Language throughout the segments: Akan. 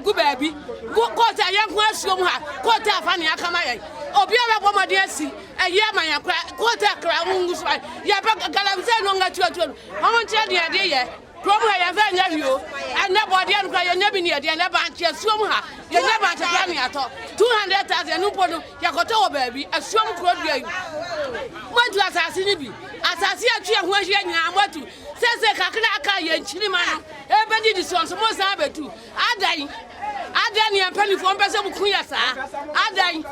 gu baabi kɔɔte a yɛnko asuo mu ha kɔɔte afa nea aka ma yɛn obi a bɛbɔ mmɔden asi ɛyi ama yɛn kora kɔɔte kra ho ngu so a yɛbɛ galamsey no nga tuatuo no wɔn nkyerɛ deɛ ɛde yɛ kurom ha yɛn fɛ nyɛ wio ɛnɛ bɔdeɛ no kora yɛnyɛ bi ne yɛde ɛnɛ bankye asuo mu ha yɛnyɛ bankye kora ne atɔ 200,000 ɛno mpo no yɛkɔtɔ wɔ baabi asuo mu kuro dua yi moatu asase no bi asase atwi ɛho ahyia nyinaa moatu sɛsɛ kakra aka yɛn kyirima no Ebɛn nnidisoɔ nso moresan abɛtu? Adɛn? Adɛn ne yɛn mpanimfoɔ mpɛ sɛ mo kunu yɛ saa? Adɛn?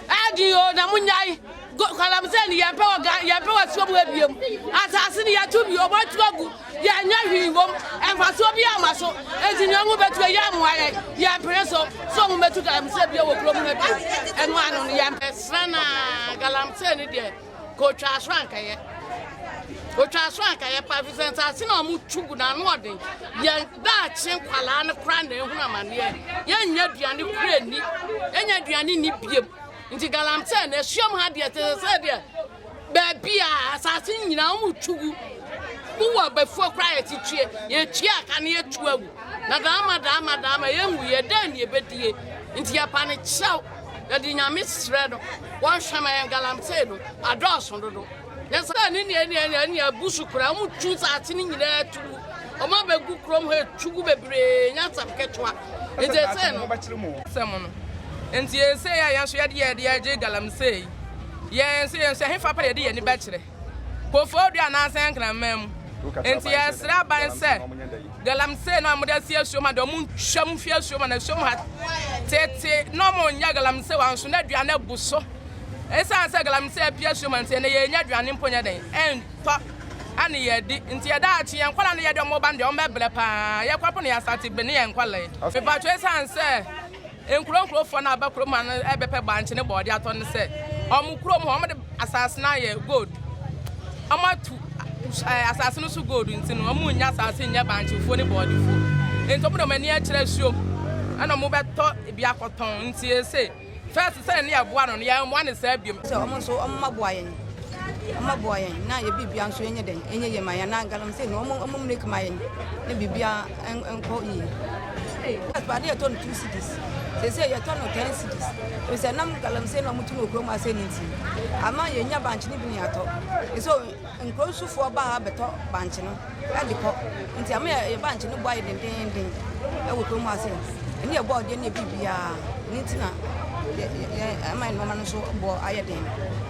Ɛyɛ den o, na monyae. Galamsey ne yɛmpɛ wɔ Ghana, yɛmpɛ wɔ asuo mu ebiem. Asase ne yɛatu bi, wɔn atu agu, yɛnyɛ hwee wom. Mfasoɔ bi ama so. Enti nea wɔn bɛtu yɛ mmoa yɛn, yɛmpene so. So wɔn bɛtu Galamsey bio wɔ kurom ha bio? Ɛno ano no yɛmpɛ. Srɛ no a, Galamsey no deɛ. kotwa aso ankɛyɛ otwa aso ankɛyɛ pa efisɛ nsaase na wɔn tu gu n'ano ɔden yɛn daakye nkwalaa no kora na ehun amaneɛ yɛnyɛ aduane kura ni yɛnyɛ aduane ni biem nti galamsey na esuam ha deɛ te sɛ deɛ baabi a asaase nyinaa wɔn tu gu wowɔ abɛfuo koraa yɛtetue yɛtue aka ne yɛtu agu na daama daama daama yɛnwu yɛ dɛn ne yɛbɛdie nti yɛpa ne kyɛw Yɛde Nyame srɛ no wɔnhwɛ ma yɛn galamsey no adɔɔso dodo. Nyɛ sɛ ɛne nea ɛne ɛne ɛne abu so koraa, wɔn twu saase no nyinaa tu gu, wɔn abɛgu kurom hɔ etu gu bebree, nyɛ asɛm ketewa. Nti esei no, asɛm no, nti esei a yɛn nso yɛde yɛn de agye galamsey, yɛn nso yɛn nso ɛhefa pɛ na yɛde yɛn ani bɛkyerɛ? Koforidua anaasɛ Nkraman mu. Enti yɛsrɛ aban sɛ galamsey no a wɔde asi asuo ma deɛ wɔntwa mu mfi asuo ma na asuo mu ha tete na wɔnyɛ galamsey wɔ nso na aduane abu so ɛsiane sɛ galamsey apue asuo ma nti ɛnɛ yɛnya aduane mpo nyɛ dɛn ɛntɔ ɛne yɛdi nti yɛda akye yɛn nkwadaa no yɛde wɔn ba no deɛ wɔn bɛbrɛ paa yɛkwapo no yɛasate bene yɛn nkwadaa yi mepatwa ɛsiane sɛ Nkuro nkuro foɔ no a bɛ kurom ha no bɛ pɛ bankye ne bɔɔdeɛ atɔ ne sɛ ɔmo kurom hɔ ɔmo de asaase no ayɛ gold ɔmo atu eh, asaase no so gold nti no ɔmo nya asaase nyɛ bankye fuo ne bɔɔde fuo nti ɔmo de ɔmo ani akyerɛ asuo mu ɛna ɔmo bɛtɔ ebi akɔtɔn nti ese fɛs sɛ ne yɛboa no no yɛmmoa ne saa biom sɛ ɔmo nso ɔmo ma boa yɛn ɔmo boa yɛn na yɛ biribia nso yɛnyɛ dɛn ɛnyɛ yɛ ma yɛn na galamsey no ɔmo ɔmo miliki ma yɛn ne biribia nkɔ yie. Gas paa ne yɛtɔ no two cedis sese yɛtɔ no ten cedis efisɛ nam galamsey na wɔtu no wɔ kurom ase ne nti ama yɛnya bankye no bi ne yɛatɔ nso nkuro nsufoɔ ba ha bɛtɔ bankye no de kɔ nti ama yɛ bankye no bɔ ayɛ dendenden wɔ kurom ase ɛne yɛbɔ ɔdeɛ ne yɛ biribiara ne nti na ɛma nneɛma no nso bɔ ayɛ den.